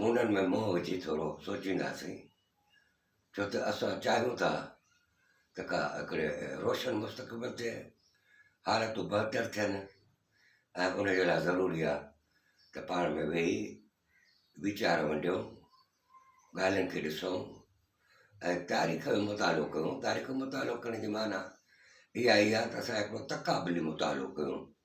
منهن ۾ منهن وجهي ٿورو سوچينداسين، ڇو ته اسان چاهيون ٿا ته ڪا هڪڙي روشن مستقبل تي حالتون بهتر ٿين ۽ ان جي لاء ضروري آهي ته پاڻ ۾ ويهي ويچار ونڊيون ڳالهين کي ڏسون ۽ تاريخ جو مطالعو ڪيون تاريخ جو مطالعو ڪرڻ جي معنيٰ اها ئي آهي ته اسان هڪڙو تقابلي مطالعو ڪيون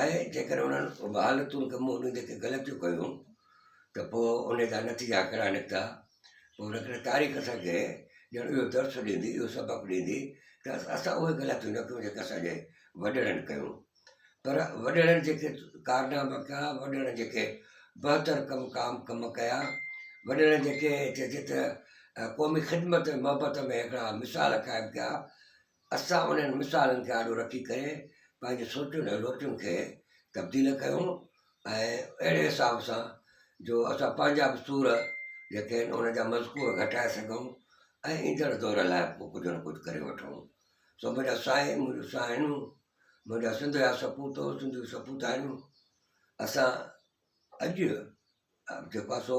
آهي جيڪڏهن انهن وحالتن کي منهن ڏيندي ڪنهن غلط جو ڪيو ته پوء ان جا نتيجا ڪهڙا نڪتا پوء ان ڪري تاريخ اسان کي ڄڻ اهو درس ڏيندي اهو سبق ڏيندي ته اسان اهي غلطيون نه ڪيون جيڪي اسانجي وڏڙن ڪيو پر وڏڙن جيڪي ڪارناما ڪيا وڏڙن جيڪي بهتر ڪم ڪام ڪم ڪيا وڏڙن جيڪي چئجي ته قومي خدمت محبت ۾ هڪڙا مثال قائم ڪيا اسان انهن مثالن کي آڏو رکي ڪري پنهنجي سوچن ۽ لوچن کي تبديل ڪيون ۽ اهڙي حساب سان جو اسان پنهنجا به سور جيڪي آهن ان جا مذڪور گهٽائي سگهون ۽ ايندڙ دور لاء پوء ڪجهه نه ڪجهه ڪري وٺون سو منهنجا سائين منهنجو سائينون منهنجا سنڌ جا سپوتو سنڌيون سپوتاڻيون اسان اڄ جيڪو سو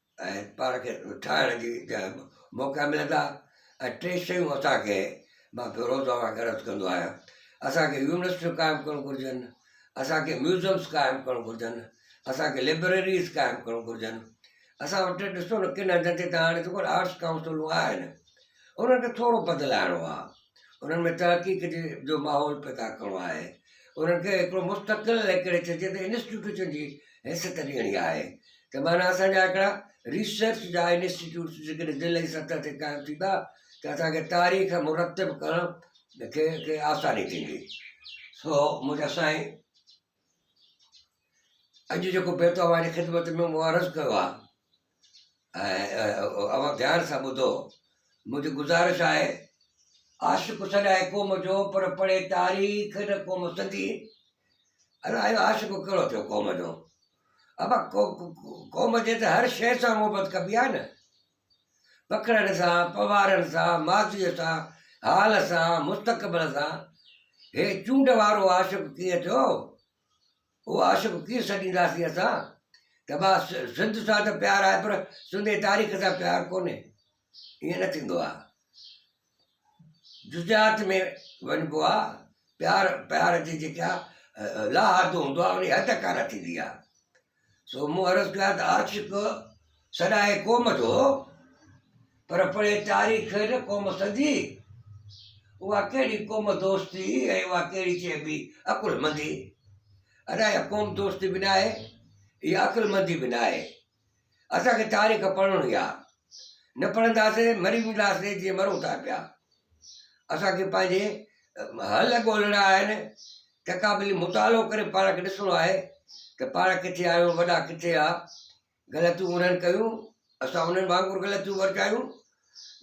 ۽ پاڻ کي ٺاهڻ جي جنهن به موقعا ملن ٿا ۽ ٽي شيون اسانکي مان پيو روز اوهان کي عرض ڪندو آهيان اسانکي يونيورسٽيون قائم ڪرڻ گهرجن اسانکي ميوزمس قائم ڪرڻ گهرجن اسانکي ليبريريز قائم ڪرڻ گهرجن اسان وٽ ڏسو ڪن هنڌن تي ته هاڻي آرٽس ڪائونسلون آهن انهن کي ٿورو بدلائڻو آهي، انهن ۾ تحقيق جي جو ماحول پيدا ڪرڻو آهي، انهن کي هڪڙو مستقل ليڪڙي چئجي ته انسٽيٽيوشن جي حيثيت ڏيڻي آهي ته معنيٰ اسان جا هڪڙا ريسرچ جا انسٽيٽيوٽس جيڪڏهن ضلعي سطح تي قائم ٿيندا ته اسان کي تاريخ مرتب ڪرڻ کي کي آساني ٿيندي سو منهنجا سائين اڄ جيڪو بيت اوهان جي خدمت ۾ مون عرض ڪيو آهي اوهان ڌيان سان ٻڌو منهنجي گذارش آهي عاشق سڏائي قوم جو پر پڙهي تاريخ نه قوم سنڌي الا اهو عاشق کهڙو ٿيو قوم جو ابا قوم جي ته هر شي سان محبت ڪبي آهي نه پکڙن سان پوارن سان ماضيء سان حال سان مستقبل سان هي چونڊ وارو عاشق ڪيئن ٿيو هو عاشق ڪيئن سڏينداسين اسان ته ڀا سنڌ سان ته پيار آهي پر سنڌي تاريخ سان پيار ڪونهي ائين نه ٿيندو آهي جزيات ۾ وڃبو آهي پيار پيار جي جيڪا لاحادو هوندو آهي ان حد ڪانه ٿيندي آهي سو مون عرض ڪيو آهي ته عاشق سڏائي قوم جو پر پڙهي تاريخ نه قوم سنڌي اها ڪهڙي قوم دوستي ۽ اها ڪهڙي چئبي عقل مندي ادا اها قوم دوستي به ناهي اها عقل مندي به ناهي اسان کي تاريخ پڙهڻي آ نه پڙهنداسي مري وينداسي جيئن مرون ٿا پيا اسان کي پنهنجي حل ڳولهڻا آهن تقابلي مطالعو ڪري پاڻ کي ڏسڻو آهي ته پاڻ ڪٿي آهيون وڏا ڪٿي آ غلطيون انهن ڪيون، اسان انهن وانگر غلطيون ورجايون،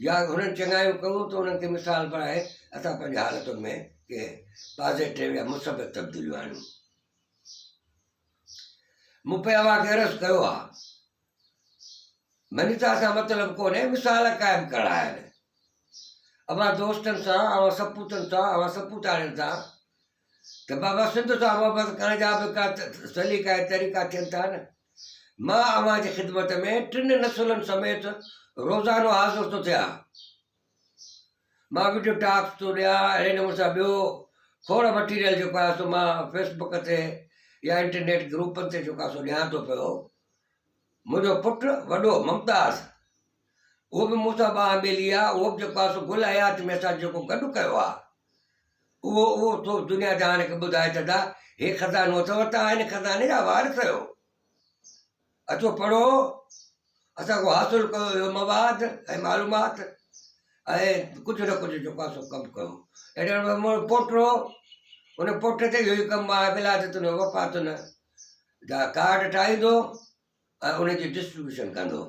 يا انهن چڱايون ڪيون ته انهن کي مثال بڻائي اسان پنهنجي حالتن ۾ ڪي پازيٽو يا مثبت تبديليون آڻيون. مون پئي اوهان کي عرض ڪيو آهي، منيتا سان مطلب ڪونهي مثال قائم ڪرڻ آهن. اوهان دوستن سان، اوهان سپوتن سان، اوهان سپوتاڻين سان ته بابا سنڌ سان محبت ڪرڻ جا به ڪا سليقا ۽ طريقا ٿين ٿا نه. مان اوهان جي خدمت ۾ ٽن نسلن سميت روزانو حاضر ٿو ٿيان. مان وڊيو ٽاڪس ٿو ڏيان، اهڙي نموني سان ٻيو کوڙ مٽيريل جيڪو آهي سو مان فيس بڪ تي يا انٽرنيٽ گروپن تي جيڪو آهي سو ڏيان ٿو پيو. منهنجو پٽ وڏو ممتاز اهو به مون سان ٻانهه ٻيلي آ، اهو به جيڪو آ سو گل حيات ۾ اسان جيڪو گڏ ڪيو آ، اهو اهو تو دنيا جهان کي ٻڌائي ڇڏا، هي خزانو اٿئو، توهان هن خزاني جا وارث آهيو، اچو پڙهو، اسان کان حاصل ڪيو اهو مواد ۽ معلومات ۽ ڪجهه نه ڪجهه جيڪو آ سو ڪم ڪيو. اهڙي نموني مون پوٽو هو، ان پوٽي تي اهو ئي ڪم آ، ولادتن و وفاتن جا ڪارڊ ٺاهيندو هو، ۽ ان جي ڊسٽريبيوشن ڪندو.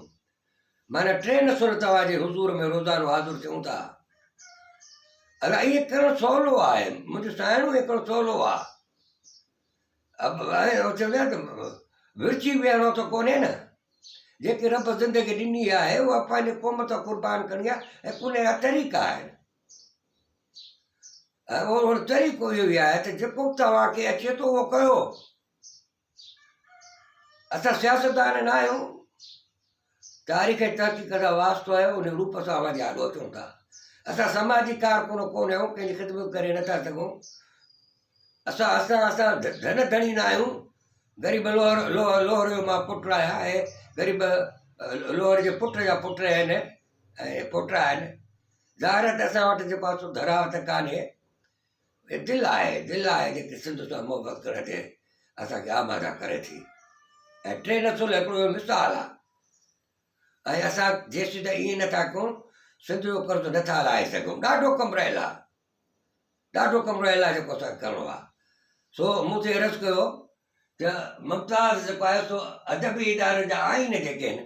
معنيٰ ٽي نسل توهان جي حضور ۾ روزانو حاضر ٿيون ٿا. الا ائين ڪرڻ سولو آهي منهنجو سائڻو ائين ڪرڻ سولو آهي ورچي ويهڻو ته ڪونهي نه جيڪي رب زندگي ڏني آهي اها پنهنجي قوم تان قربان ڪرڻي آهي ۽ ان جا طريقا آهن ۽ طريقو اهو ئي آهي ته جيڪو توهان کي اچي ٿو اهو ڪيو اسان سياستدان نه آهيون، تاريخ ۽ تحقيق سان واسطو آهي، ان روپ سان اوهان جي آڏو اچون ٿا. اسان سماجي ڪارڪن ڪونه آهيون، ڪنهن جي خدمت ڪري نه ٿا سگهون. اسان اسان اسان ڌن ڌڻي نه آهيون، غريب لوهر لوهر لوهر جو مان پٽ آهيان ۽ غريب لوهر جي پٽ جا پٽ آهن ۽ پوٽا آهن. ظاهر آهي ته اسان وٽ جيڪو آسو ڌراوت ڪانهي. هي دل آهي، دل آهي جيڪي سنڌ سان محبت ڪرڻ جي اسان کي آماده ڪري ٿي ۽ ٽي نسل هڪڙو اهو مثال آهي ۽ اسان جيسين تائين ائين نٿا ڪيون سنڌ جو قرض نٿا لاهي سگهون ڏاڍو ڪم رهيل آهي ڏاڍو ڪم رهيل آهي جيڪو اسانکي ڪرڻو آهي سو مون تي عرض ڪيو ته ممتاز جيڪو آهي سو ادبي ادارن جا آئين جيڪي آهن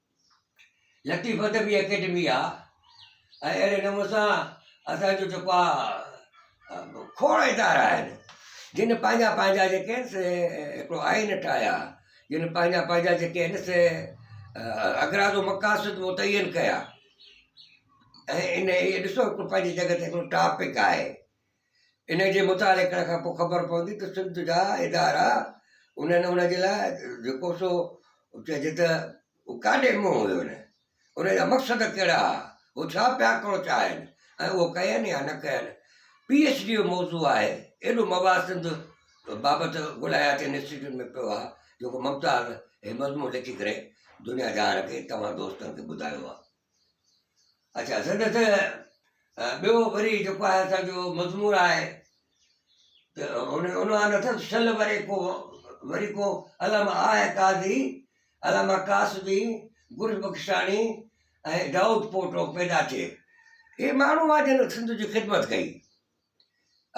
لطيف ادبي اڪيڊمي آ ۽ اهڙي نموني سان اسانجو جيڪو آ کوڙ ادارا آهن جن پنهنجا پنهنجا جيڪي آهن سي هڪڙو آئين ٺاهيا جن پنهنجا پنهنجا جيڪي آهن سي اغراض و مقاصد متعين ڪيا ۽ ان اهي ڏسو هڪڙو پنهنجي جڳهه تي هڪڙو ٽاپڪ آهي ان جي مطالعي ڪرڻ کان پوء خبر پوندي ته سنڌ جا ادارا انهن ان جي لاء جيڪو سو چئجي ته ڪاڏي منهن هيو انهن ان جا مقصد ڪهڙا هئا هو ڇا پيا ڪرڻ چاهين ۽ اهو ڪين يا نه ڪين پي ايڇ ڊي جو موضوع آهي ايڏو مواد سنڌ بابت غل حياتي انسٽيٽيوٽ ۾ پيو آهي جيڪو ممتاز هي مضمون لکي ڪري دنيا جهان کي توهان دوستن کي ٻڌايو آهي اچا سندس ٻيو وري جيڪو آهي اسان جو مضمون آهي ته هن عنوان اٿس شل وري کو وري کو علامه آء قاضي علامه قاسبي گل بخشاڻي ۽ دائود پوٽو پيدا ٿئي اهي ماڻهو آهن جن سنڌ جي خدمت ڪئي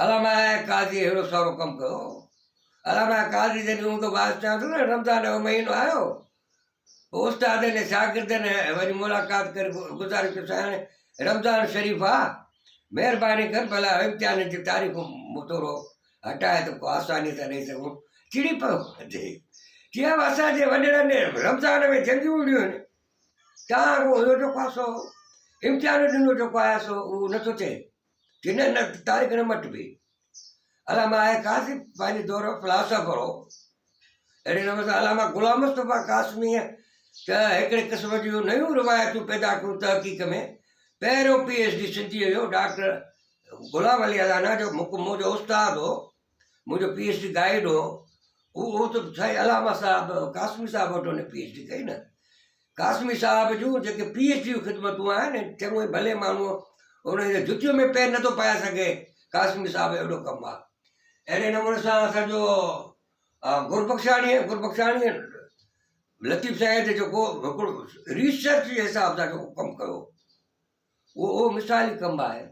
علامه قاضي اهڙو سارو ڪم ڪيو هو. علامه قاضي جڏهن هوندو باس چيان ٿو نه رمضان جو مهينو آيو پوء استادن ۽ شاگردن وڃي ملاقات ڪري گذارش ڪيو سائين رمضان شريف آ مهرباني ڪر ڀلا امتحانن جي تاريخون مٿورو هٽائي ته ڪو آساني سان ڏيئي سگهون چڙي پيو جي چيو اسان جي وڏڙن رمضان ۾ جنگيون وڙيون آهن تان اهو جو پاسو امتحان ڏنو جو پاياسو اهو نٿو چئي ڪن هن تاريخ نه مٽبي. علامه آء قاسم پنهنجي دور جو فلاسافر هو. اهڙي نموني سان علامه غلام مصطفيٰ قاسميء ته هڪڙي قسم جون نيون روايتون پيدا ڪيون تحقيق ۾ پهريون پي ايڇ ڊي سنڌيء جو ڊاڪٽر غلام علي الانا جو مڪمو جو استاد هو. منهنجو پي ايڇ ڊي گائيڊ هو اهو ته سائين علامه صاحب قاسمي صاحب وٽ هن پي ايڇ ڊي ڪئي نه قاسمي صاحب جون جيڪي پي ايڇ ڊي خدمتون آهن چڱو هي ڀلي ماڻهو انهن جي جتيء ۾ پير نٿو پائي سگهي قاسمي صاحب اهڙو ڪم آهي اهڙي نموني سان اسانجو گربخشاڻي گربخشاڻي لطيف سائين تي جيڪو هڪڙو ريسرچ جي حساب سان جيڪو ڪم ڪيو اهو اهو مثالي ڪم آهي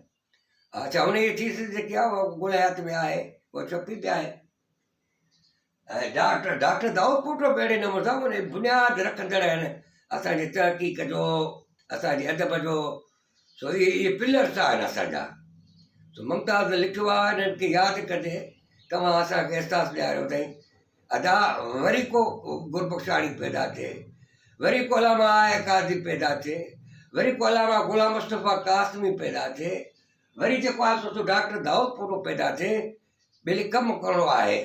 آء چيو انهيء ٿيسز جيڪي آء گل حيات ۾ آهي اها چپي تي آهي ۽ ڊاڪٽر ڊاڪٽر دائود پوٽو به اهڙي نموني سان انهي بنياد رکندڙ آهن اسان جي تحقيق جو اسان جي ادب جو سو اهي اهي پلرس آهن اسانجا سو ممتاز لکيو آهي انهن کي ياد ڪندي توهان اسانکي احساس ڏياريو اٿئي ادا وري ڪو گربخشاڻي پيدا ٿئي، وري ڪو علامه آء قاضي پيدا ٿئي، وري ڪو علامه غلام مصطفيٰ قاسمي پيدا ٿئي، وري جيڪو آهي سو ڊاڪٽر دائودپورو پيدا ٿئي، ٻيلي ڪم ڪرڻو آهي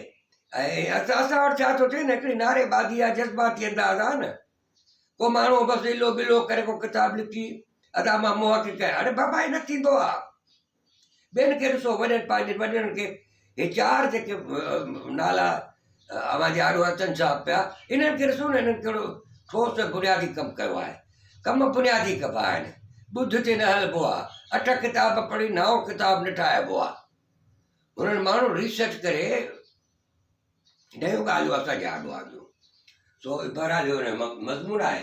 ۽ اسان وٽ ڇا ٿو ٿئي نه هڪڙي نعري بازي آهي جذباتي انداز آهي نه ڪو ماڻهو بس هلو ملو ڪري ڪو ڪتاب لکي ادا مان محقق آهيان اڙي بابا هي نه ٿيندو آهي ٻين کي ڏسو وڏن پنهنجن وڏڙن کي هي چار جيڪي نالا اوهان جي آڏو اچن ڇا پيا انهن کي ڏسو نه انهن ڪهڙو ٺوس ۽ بنيادي ڪم ڪيو آهي ڪم بنيادي ڪبا آهن ٻڌ تي نه هلبو آهي اٺ ڪتاب پڙهي نائون ڪتاب نه ٺاهبو آهي انهن ماڻهو ريسرچ ڪري ڏهيون ڳالهيون اسان جي آڏو آنديون سو بهرحال اهو مضمون آهي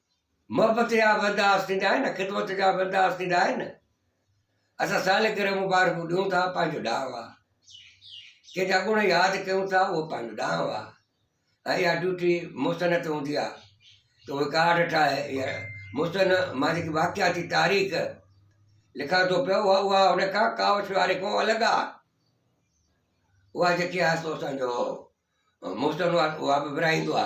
محبت جا بندا عاصي ٿيندا آهن، خدمت جا بندا عاصي ٿيندا آهن. اسان سالي گرهه مبارڪون ڏيون ٿا، پنهنجو ڏانء آ. ڪنهن جا گڻ ياد ڪيون ٿا، اهو پنهنجو ڏانء آ. ۽ اها ڊيوٽي محسن تي هوندي آ ته اهي ڪارڊ ٺاهي يا محسن مان جيڪي واقعاتي تاريخ لکان ٿو پيو اها اها هن کان ڪاوش واري کان الڳ آ. اها جيڪي آ سو اسان جو محسن اها به ورهائيندو آ.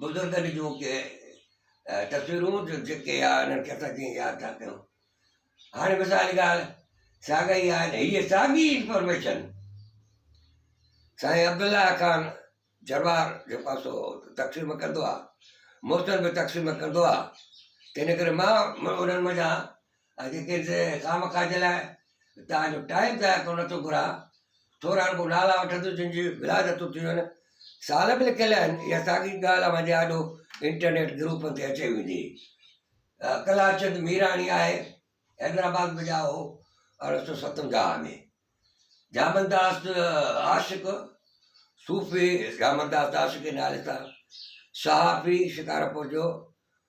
بزرگن جون ڪي تصويرون جو جيڪي آ انهن کي اسان جيئن ياد ٿا ڪيون هاڻي مثال جي ڳالهه ساڳا ئي آهن هيء ساڳي انفارميشن سائين عبدالله خان جروار جو پاسو تقسيم ڪندو آ موسم به تقسيم ڪندو آ تنهن ڪري مان انهن منجهان اڳي ڪنهن خام کاج لاء توهان جو ٽائيم ضايع ڪرڻ نٿو گهران، ٿورا رڳو نالا وٺندس جن جي ولادتون ٿيون آهن، سال به لکيل آهن، اها ساڳي ڳالهه اوهان جي آڏو انٽرنيٽ گروپن تي اچي ويندي. ڪلارچند ميراڻي آهي، حيدرآباد ۾ ڄائو هو، ارڙهن سؤ ستونجاهه ۾. جامنداس عاشق، صوفي جامنداس عاشق جي نالي سان صحافي شڪارپور جو،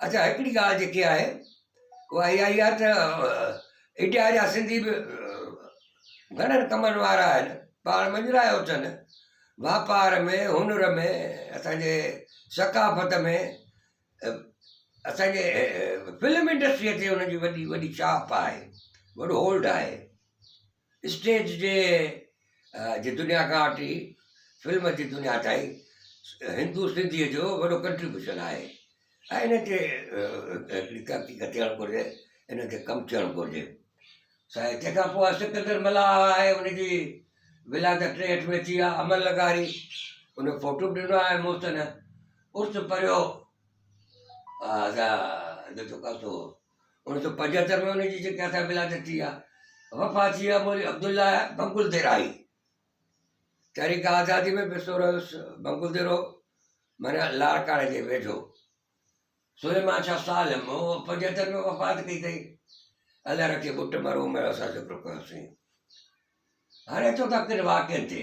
اچا هڪڙي ڳالهه جيڪي آهي اها اها ئي آهي ته اڊيا جا سنڌي به گهڻن ڪمن وارا آهن پاڻ مڃرايو اٿن واپار ۾ هنر ۾ اسانجي ثقافت ۾ اسانجي فلم انڊسٽريء تي انهن جي وڏي وڏي ڇاپ آهي وڏو هولڊ آهي اسٽيج جي جي دنيا کان وٺي فلم جي دنيا تائين هندو سنڌيء جو وڏو ڪنٽريبيوشن آهي ۽ ان تي هڪڙي تحقيق ٿيڻ گهرجي ان تي ڪم ٿيڻ گهرجي سائين تنهن کان پوء سڪندر ملاح آهي ان جي ولادت ٽيهٺ ۾ ٿي آهي امل لغاري ان فوٽو به ڏنو آهي محسن عرس پريو اوڻيھ سؤ پنجهتر ۾ انهن جي جيڪي اسان ولادت ٿي آ وفات ٿي آ مولوي عبدالله بنگل ديرائي تحريڪ آزادي ۾ بي سورو بنگل ديرو مانا لاڙڪاڻي جي ويجهو سليمان شاھ سالم هو پنجهتر ۾ وفات ڪئي اٿئي الله رکي بٽ مرو ميڙا سان ذڪر ڪيوسين هاڻي اچو ٿا ڪن واقعن تي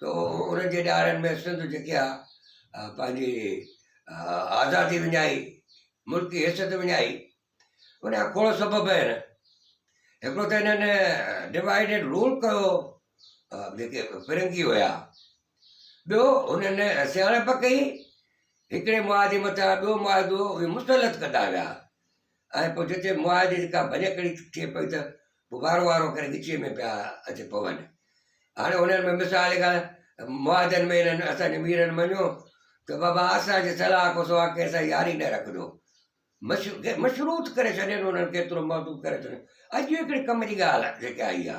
تو ان جي ڏهاڙن ۾ سنڌ جيڪي آ پنهنجي آزادي وڃائي ملڪي حيثيت وڃائي ان جا کوڙ سبب آهن هڪڙو ته هنن ڊوائڊ اينڊ رول ڪيو جيڪي فرنگي هيا ٻيو هنن سياڻپ ڪئي هڪڙي معاهدي مٿان ٻيو معاهدو مسلط ڪندا ويا ۽ پوء جتي معاهدي جي ڪا ڀڃڪڙي ٿئي پئي ته پوء وارو وارو ڪري ڳچيء ۾ پيا اچي پون. هاڻي انهن ۾ مثال جي ڳالهه معاهدن ۾ انهن اسان جي ميرن مڃيو ته بابا اسان جي صلاح کان سواء ڪنهن سان ياري نه رکجو. مشروط ڪري ڇڏين انهن کي ايترو محدود ڪري ڇڏين. اڄ هڪڙي ڪم جي ڳالهه جيڪا آئي آ.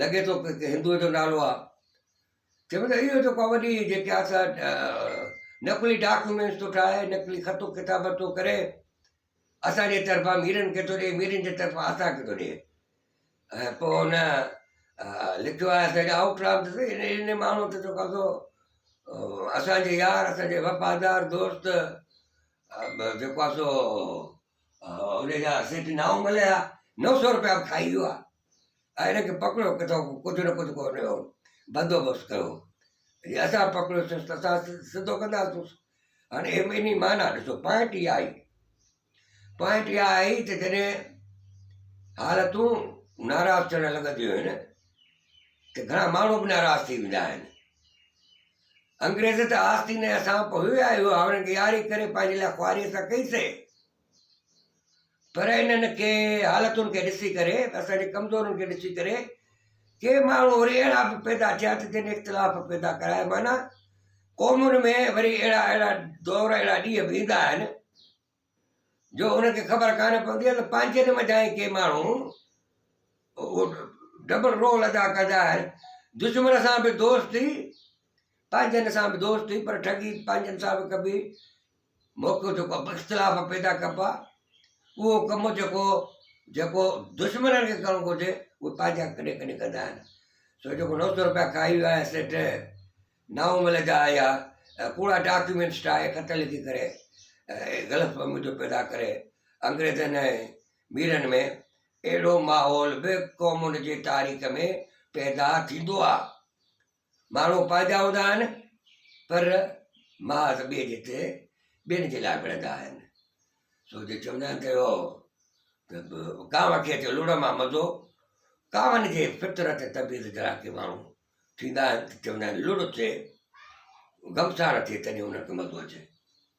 لڳي ٿو ڪنهن هندوء جو نالو آهي. چئبو ته اهو ته ڪا وڏي جيڪي آهي سا نقلي ڊاڪيومينٽس ٿو ٺاهي، نقلي خط و ڪتابت ٿو ڪري، اسان جي طرفان ميرن کي ٿو ڏئي، ميرن جي طرفان اسان کي ٿو ڏئي. ۽ پوء هن لکيو آهي اسان جا آئوٽ رام ته سهي ان ان ماڻهوء تي ٿو قبضو اسان جي يار اسان جي وفادار دوست جيڪو آهي سو ان جا سيٺ نائون ملهيا نو سو روپيا به کائي ويو آهي. هن کي پڪڙيو ڪٿان ڪو ڪجهه نه ڪجهه ڪو هن جو بندوبست ڪيو جي اسان پڪڙيوسيس ته اسان سڌو ڪنداسونس هاڻي هي ٻنهي معنيٰ ڏسو پوائنٽ اها آئي پوائنٽ اها آئي ته جڏهن حالتون ناراض ٿيڻ لڳنديون آهن ته گهڻا ماڻهو به ناراض ٿي ويندا آهن انگريز ته آستين اسان پوء آيو هاڻ ڏياري ڪري پنهنجي لاء خواري سان ڪئي سي پر انهن کي حالتن کي ڏسي ڪري اسان جي ڪمزورين کي ڏسي ڪري ڪي ماڻهو وري اهڙا به پيدا ٿيا ته جن اختلاف پيدا ڪرايا معنيٰ قومن ۾ وري اهڙا اهڙا دور اهڙا ڏينهن به ايندا آهن جو انهن کي خبر ڪانه پوندي آهي ته پنهنجن منجھان ئي ڪي ماڻهو اهو ڊبل رول ادا ڪندا آهن دشمن سان به دوستي پنهنجن سان به دوستي پر ٺڳي پنهنجن سان به ڪبي موقعو جيڪو اختلاف پيدا ڪبا اهو ڪم جيڪو جيڪو دشمنن کي ڪرڻو گهرجي اهو پنهنجا ڪڏهن ڪڏهن ڪندا آهن سو جيڪو نو سو روپيا کائي ويا آهن سيٺ نائون مل جا آيا ڪوڙا ڊاڪيومينٽس ٺاهي خط لکي ڪري غلط فهمي جو پيدا ڪري انگريزن ۽ ميرن ۾ اهڙو ماحول به قومن جي تاريخ ۾ پيدا ٿيندو آهي ماڻهو پنهنجا هوندا آهن پر محاذ ٻئي جتي ٻين جي لاء وڙهندا آهن سو جو چوندا آهن ته اهو ڪانو کي اچي لوڙ مان مزو ڪانوان جي فطرت طبيعت جهڙا ڪي ماڻهو ٿيندا آهن ته چوندا آهن لوڙ ٿئي غمسار ٿئي تڏهن انهن کي مزو اچي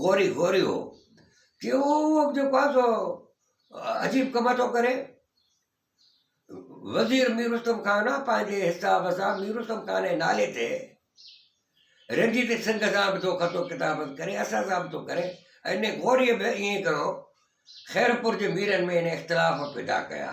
غوري غوري هو ڪي اهو جيڪو آهي سو عجيب ڪم ٿو ڪري وزير مير رستم خان پنهنجي حساب سان مير رستم خان جي نالي تي رنجي تي سنگ سان به ٿو خطو ڪتاب ڪري اسان سان به ٿو ڪري ان غوري به ائين ڪرو خيرپور جي ميرن ۾ ان اختلاف پيدا ڪيا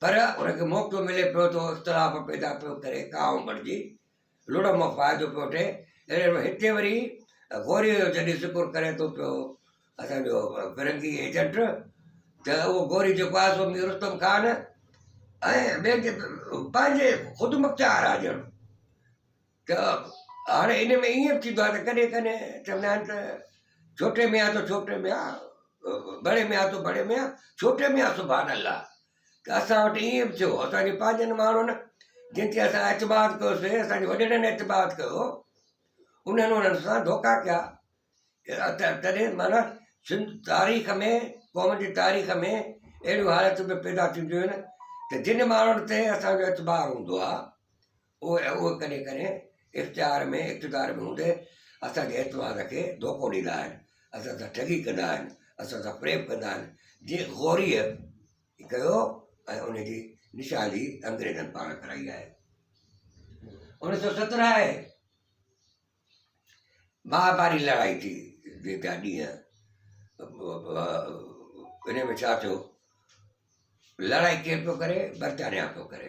پر ان کي موقعو ملي پيو ته اختلاف پيدا پيو ڪري ڪاوه بڻجي لڙهه مان فائدو پيو وٺي اهڙي نموني هتي وري غوريء جو جڏهن ذڪر ڪري ٿو پيو اسان جو فرنگي ايجنٽ ته اهو غوري جيڪو آهي سو مير رستم خان ۽ ٻين جي پنهنجي خود مختيار آ ڄڻ ته هاڻي ان ۾ ائين به ٿيندو آهي ته ڪڏهن ڪڏهن چوندا آهن ته ڇوٽي ميان تو ڇوٽي ميان بڙي ميان تو بڙي ميان ڇوٽي ميان سبحان الله ته اسان وٽ ائين به ٿيو اسان جي پنهنجن ماڻهن جن تي اسان اعتماد ڪيوسي اسان جي وڏيرن اعتماد ڪيو انهن انهن سان ڌوڪا ڪيا تڏهن معنيٰ سنڌ تاريخ ۾ قوم جي تاريخ ۾ اهڙيون حالتون به پيدا ٿينديون آهن ته جن ماڻهن تي اسانجو اعتبار هوندو آهي اهو ۽ اهو ڪڏهن ڪڏهن اختيار ۾ اقتدار ۾ هوندي اسان جي اعتماد کي ڌوڪو ڏيندا آهن، اسان سان ٺڳي ڪندا آهن، اسان سان فريب ڪندا آهن، جي غوريء ڪيو ۽ ان جي نشاندهي انگريزن پاڻ ڪرائي آهي. انيس سئو سترهن آهي، مهاڀاري لڙائي ٿي جي جا ڏينهن ان ۾ ڇا ٿيو لڙائي ڪير پيو ڪري برطانيا پيو ڪري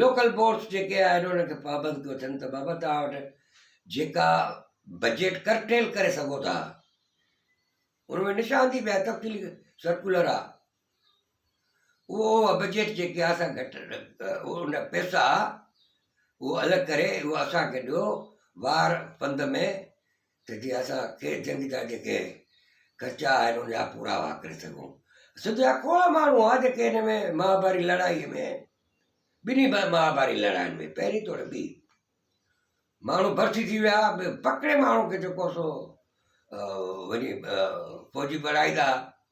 لوڪل بورڊز جيڪي آهن انهن کي پابند ڪيو اٿن ته بابا توهان وٽ جيڪا بجيٽ ڪرٽيل ڪري سگهو ٿا ان ۾ نشاندهي به تفصيلي سرڪولر آهي اهو بجيٽ جيڪي آهي سا گهٽ ان پيسا اهو الڳ ڪري اهو اسانکي ڏيو وار پنڌ ۾ ته جي اسان کي جنگ جا جيڪي خرچا آهن ان جا پورا واهه ڪري سگهون سڌ جا کوڙا ماڻهو هئا جيڪي هن ۾ مهاڀاري لڙائي ۾ ٻنهي مهاڀاري لڙائين ۾ پهرين توڙي ٻي ماڻهو ڀرتي ٿي ويا پڪڙي ماڻهو کي جيڪو سو وڃي فوجي بڻائيندا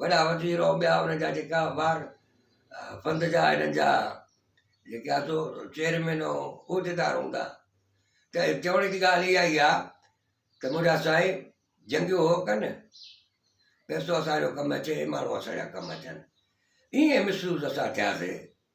وڏا وزير او ٻيا ان جا جيڪا ٻار پنڌ جا انهن جا جيڪي آ سو چيئرمين او عهديدار هوندا ته چوڻ جي ڳالهه اها ئي آهي ته منهنجا سائين جنگيون هو ڪن پيسو اسانجو ڪم اچي ماڻهو اسانجا ڪم اچن ائين محسوس اسان ٿياسي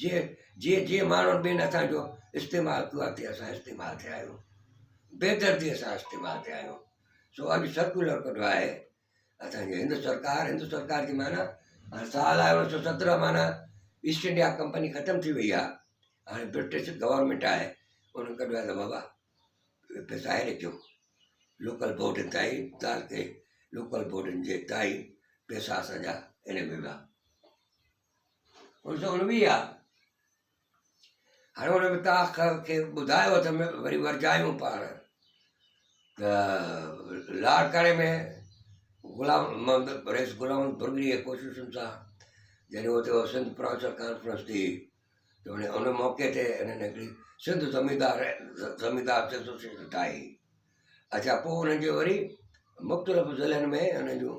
جي جي جي ماڻهن ٻين اسان جو استعمال ڪيو آهي تي اسان استعمال ٿيا آهيون بيدردي سان استعمال ٿيا آهيون سو اڄ سرڪولر ڪڍيو آهي اسانجي هند سرڪار هند سرڪار جي معنيٰ هاڻي سال آهي اڻ سو سترهن معنيٰ ايسٽ انڊيا ڪمپني ختم ٿي وئي آهي هاڻي برٽش گورنمنٽ آهي انهن ڪڍيو آهي ته بابا پيسا هيڏي ٿيو لوڪل بورڊن تائين تعلقي لوڪل بورڊن جي تائين پيسا اسانجا ان ۾ ويا ان سو انوي آ. هاڻي هن ۾ تان کي ٻڌايو اٿم وري ورجايون پاڻ ته لاڙڪاڻي ۾ غلام محمد رئيس غلام برگري جي ڪوششن سان جڏهن اتي هو سنڌ پروفيسر ڪانفرنس ٿي ته ان ان موقعي تي انهن هڪڙي سنڌ زميندار زميندار ايسوسيئيشن ٺاهي اچا پوء انهن جي وري مختلف ضلعن ۾ انهن جون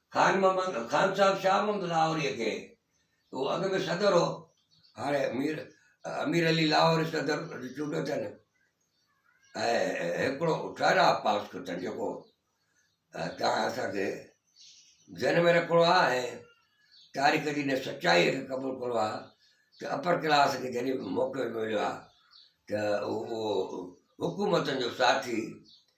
خان محمد خان صاحب شاهه محمد لاهوريء کي، اهو اڳ ۾ صدر هو، هاڻي مير امير علي لاهوري صدر چونڊيو اٿن ۽ هڪڙو ٺهراء پاس ڪيو اٿن جيڪو تان اسان کي ذهن ۾ رکڻو آ ۽ تاريخ جي ان سچائيء کي قبول ڪرڻو آ ته اپر ڪلاس کي جڏهن به موقعو مليو آ ته اهو حڪومتن جو ساٿي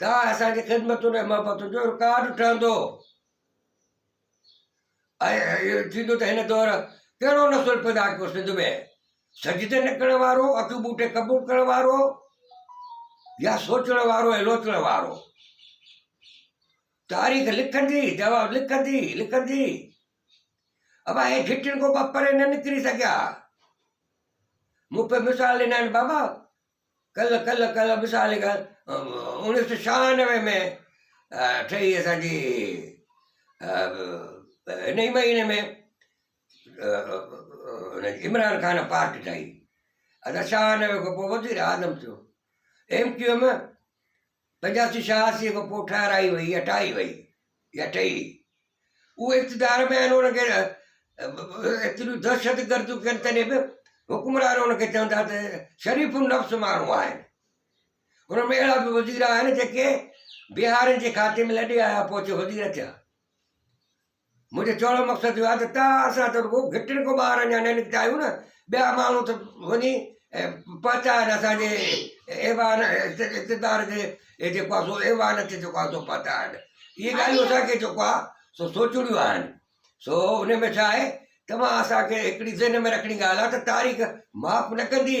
ڪا اسان جي خدمتن ۽ محبتن جو رڪارڊ ٺهندو ۽ ٿيندو ته هن دور ڪهڙو نسل پيدا ڪيو سنڌ ۾ سجدي نه ڪرڻ وارو اکيون ٻوٽي قبول ڪرڻ وارو يا سوچڻ وارو ۽ لوچڻ وارو تاريخ لکندي جواب لکندي لکندي اب هي گھٽن کو پري نه نڪري سگھيا مون پي مثال ڏنا آهن بابا کل کل کل مثال کل اڻيهه سو ڇهانوي ۾ ٺهي اسانجي هن ئي مهيني ۾ عمران خان پارٽي ٺهي اسان ڇهانوي کان پوء وزيراعظم ٿيو ايم ڪيو ايم پنجاسي شاهه سي کان پوء ٺهرائي وئي، اٺائي وئي يا ٺهي. اهي اقتدار ۾ آهن انهن کي ايتريون دهشت گرديون ڪن تڏهن به حڪمران انهن کي چون ٿا ته شريف النفس ماڻهو آهن. انهن ۾ اهڙا به وزير آهن جيڪي بهارين جي کاتي ۾ لڏي آيا پوء اچي وزير ٿيا. منهنجو چوڻ جو مقصد اهو آهي ته توهان اسان ته رڳو گهٽين کان ٻاهر اڃا نه نڪتا آهيون نه ٻيا ماڻهو ته وڃي پهچائن اسان جي ايوان اقتدار جي جيڪو آهي سو ايوان اچي چڪا آهن سو پهچائن اهي ڳالهيون اسان کي جيڪو آهي سو سوچڻيون آهن سو ان ۾ ڇا آهي توهان اسان کي هڪڙي ذهن ۾ رکڻي ڳالهه آهي ته تاريخ معاف نه ڪندي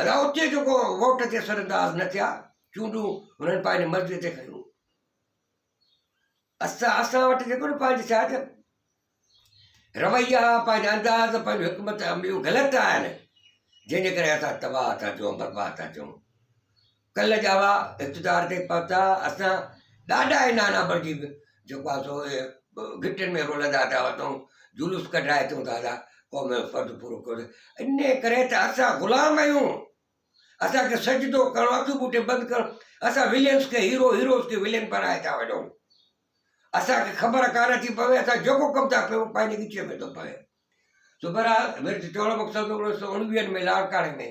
ادا اتي جو ڪو ووٽ تي سر انداز نه ٿيا چونڊون هنن پنهنجي مرضي تي کنيون اسان اسان وٽ جيڪو نه پنهنجي ڇا چئبو رويا پنهنجا انداز پنهنجو حڪمت عمليون غلط آهن جنهن جي ڪري اسان تباهه ٿا چون برباد ٿا چون ڪل جاوا اقتدار تي پهتا اسان ڏاڏا ۽ نانا بڻجي به جيڪو آهي سو گهٽين ۾ رولندا ٿا وتون جلوس ڪڍرائي اچون ٿا ادا قوم جو فرض پورو ڪريو انهي ڪري ته اسان غلام آهيون اسانکي سجدو ڪرڻو اکيون ٻوٽي بند ڪرڻو اسان ولينس کي هيرو هيروز کي ولين بنائي ٿا وڃون اسانکي خبر ڪانه ٿي پوي اسان جيڪو ڪم ٿا ڪيون پنهنجي ڳچيء ۾ ٿو پوي سو برحال ميرج چوڻ مقصد هو انيس سو اڻويهن ۾ لاڙڪاڻي ۾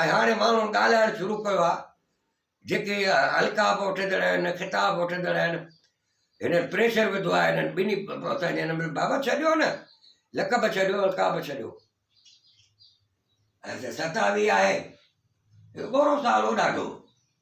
۽ هاڻي ماڻهن ڳالهائڻ شروع ڪيو آهي جيڪي القاب وٺندڙ آهن خطاب وٺندڙ آهن هنن پريشر وڌو آهي هنن ٻنهي اسان جي هنن بابا ڇڏيو نه لقب ڇڏيو القاب ڇڏيو ستاوي آهي ٻورو سالو ڏاڍو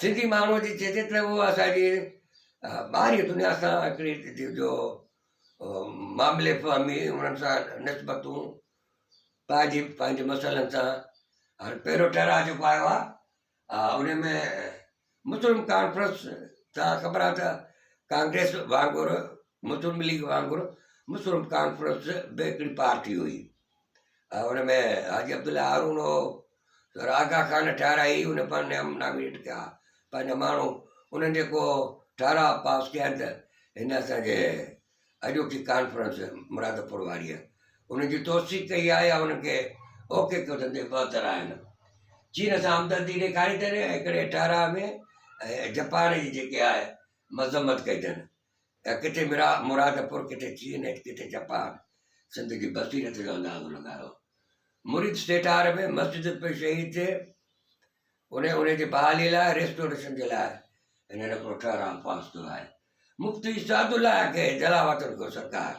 سنڌي ماڻهوء جي چيجي ته اهو اسان جي ٻاهرين دنيا سان هڪڙي جو معاملي فهمي انهن سان نسبتون پائجي پنهنجي مسئلن سان هاڻي پهريون ٺهراء جيڪو آيو آهي ان ۾ مسلم ڪانفرنس تان خبر آهي ته ڪانگريس وانگر مسلم ليگ وانگر مسلم ڪانفرنس به هڪڙي پارٽي هئي ان ۾ حاجي عبدالله هارون هو سر آغا خان ٺهرائي ان پر نيم ناميٽ ڪيا پنهنجا ماڻهو انهن جيڪو ٺهراء پاس ڪيا آهن ته هن اسانجي اڄوڪي ڪانفرنس مرادپور واريء ان جي توثيق ڪئي آهي يا انهن کي اوڪي ڪيو اٿن ته بهتر آهن چين سان همدردي ڏيکاري اٿن هڪڙي ٺهراء ۾ جپان جي جيڪي آهي مذمت ڪئي اٿن ته ڪٿي مرادپور، ڪٿي چين ۽ ڪٿي جپان سنڌ جي بصيرت جو اندازو لڳايو. مريد سيٺار ۾ مسجد پئي شهيد ٿئي، ان ان جي بحالي لاء ريسٽوريشن جي لاء هنن هڪڙو ٺهراء پاس ڪيو آهي. مفتي سعدالله کي جلاوطن ڪيو سرڪار.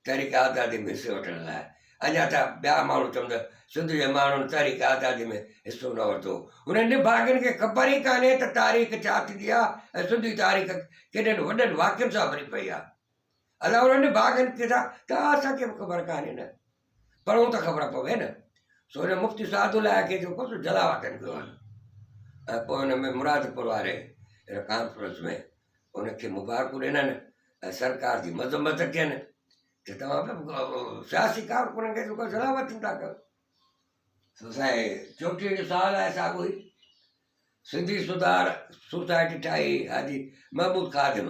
تحريڪ آزادي ۾ حصو وٺڻ لاء اڃا ته ٻيا ماڻهو چون ته سنڌ جي ماڻهن تحريڪ آزادي ۾ حصو نه ورتو هنن نڀاڳن کي خبر ئي ڪانهي ته تاريخ ڇا ٿيندي آهي ۽ سنڌي تاريخ ڪيڏن وڏن واقعن سان ڀري پئي آهي الاهور نڀاڳن کي ته اسان کي به خبر ڪانهي نه پڙهون ته خبر پوي نه. سو هن مفتي سعد الله کي جيڪو سو جلاوطن ڪيو آهن ۽ پوء ان ۾ مرادپور واري هن ڪانفرنس ۾ ان کي مبارڪون ڏنن ۽ سرڪار جي مذمت ڪين ته توهان سياسي ڪارڪنن کي جيڪو جلاوطن ٿا ڪيو سو سائين چوٽيهه سال آهي ساڳو ئي سنڌي سڌار سوسائٽي ٺاهي حاجي محمود خادم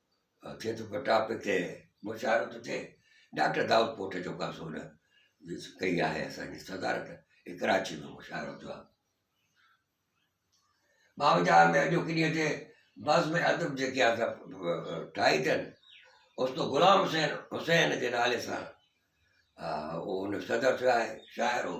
ٿئي ٿو پٽاپ هتي مشاعرو ٿو ٿئي ڊاڪٽر دائود پوٽ جو ڪا سون ڪئي آهي اسانجي صدارت هي ڪراچي ۾ مشاعرو ٿيو آهي ٻاونجاهه ۾ اڄو ڪني هتي بس ۾ ادب جيڪي آسا ٺاهي اٿن استو غلام حسين حسين جي نالي سان هو هن صدر ٿيو آهي شاعر هو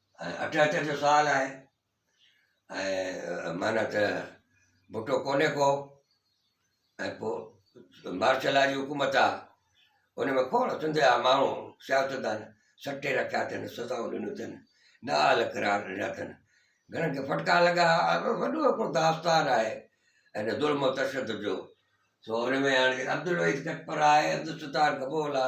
اٺ اچڻ جو سوال آهي ۽ معنيٰ ته ڀٽو ڪونهي ڪو ۽ پوء مارشل لا جي حڪومت آ ان ۾ ڪوڻ سنڌ جا ماڻهو سياستدان سٽي رکيا اٿن سزائون ڏنيون اٿن نا اهل قرار ڏنا اٿن گهڻن کي ڦٽڪا لڳا وڏو هڪڙو داستان آهي ان ظلم و تشدد جو سو ان ۾ هاڻي عبدالوحيد کٽپرا آهي عبدالستار گبول آ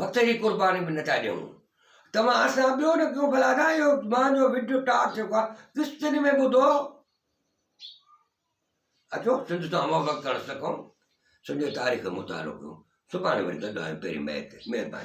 وقت جي قرباني به نٿا ڏيون توهان اسان ٻيو نه ڪيون ڀلا ادا اهو مان جو وڊيو ٽاڪ ٿيو آ قسطن ۾ ٻڌو اچو سنڌ تان محبت ڪرڻ سکون سنڌ تاريخ مطالعو ڪيون سڀاڻي وري گڏ آهيون پهرين مهرباني